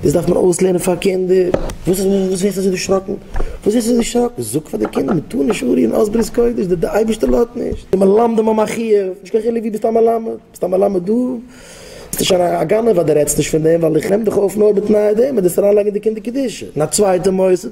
דאס דארף מען אויסלערנען פאר קינדער. וואס איז וואס ווערסטו אזוי דערשראקן? וואס ווערסטו דערשראקן? זאג פאר די קינדער מען טאר נישט ארי אן אויס ברית קודש, די די אייבערשטער לאזט נישט, די מלמדים האבן א חיוב, נישט קיין חילוק ווי ביסט א מלמד, ביסט א מלמד דא, ביסטו שוין א גנב אז די רעדסט נישט פון דעם, ווייל איך נעם דיך אויף נאר בתנאי דעם אז דו וועסט אריינלייגן אין די קינדער קדושה אין א צווייטע מוסד.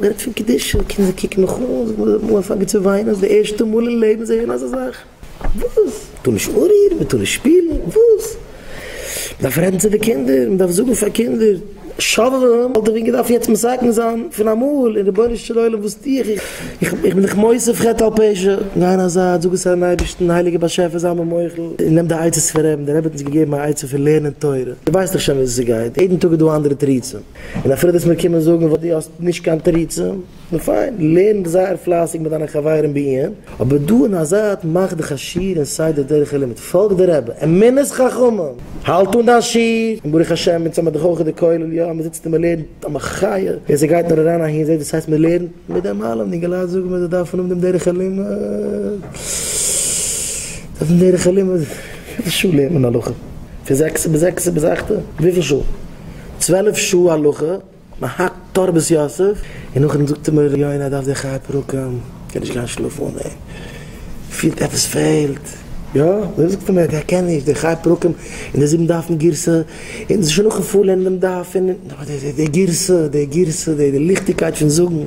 מ'רעדט פון קדושה, קינדער קוקן מיך אן, זיי זענען אמאל אנטפאנגען צו וויינען אז די ערשטע מאל אין לעבן זיי הערן אזא זאך. וואס? מ'טאר נישט אנרירן? מ'טאר נישט שפילן? וואס? מ'דארף רעדן צו די קינדער, מ'דארף זאגן פאר קינדער שובבים, וואלט איך ווען געדארפט יעצט מסכם זיין פון אמאל, און רבונו של עולם וואס טו איך? איך בין דיך מוסיף חטא על פשע, גיי אין א זייט, זאג עס פארן אייבערשטן, הייליגער באשעפער זיי מיר מוחל, און נעם די עצות פון רעבן, דער רבי האט אונז געגעבן א עצה פון לערנען תורה, דו ווייסט דאך שוין וויאזוי ס'גייט, יעדן טאג איז דא א אנדערע תירוצים. און אפילו וועסט מיר קומען זאגן וואס דו האסט נישט קיין תירוצים, נו פיין, לערן זייער פלייסיג מיט דיינע חברים בעיון, אבער דא אין א זייט מאך דיך א שיעור אין סדר דרך הלימוד, פאלג די רבי, אמונת חכמים, האלט אן דיין שיעור, און ברוך השם אונז האמיר דאך אויך די כולל, יא, מען זיצט און מען לערנט א מחיה, און ס'גייט נאר אריין אהין, זעט וואס הייסט מען לערנט מיט דעם אלעם, די אינגעלייט זאגן מיר זיי דארפן האבן דעם דרך הלימוד, דעם דרך הלימוד, וויפיל שעה לערנט מען הלכה? פון זעקסע ביז זעקסע ביז אכטע? וויפיל שעה? צוועלף שעה הלכה, מען האקט תרבות יוסף, און נאכדעם זאגט אים ר' יונה ער דארף זיך חי פרקים, ער קען נישט גיין שלאפן אן אים, פילט עפעס פעלט, יא, ווער זאגט אים ער קען נישט די חי פרקים און די זיבן דפים גירסא, און עס איז שוין נאכן פארלערנען דעם דף, און די גירסא, די גירסא, די ליכטיגקייט פון זאגן.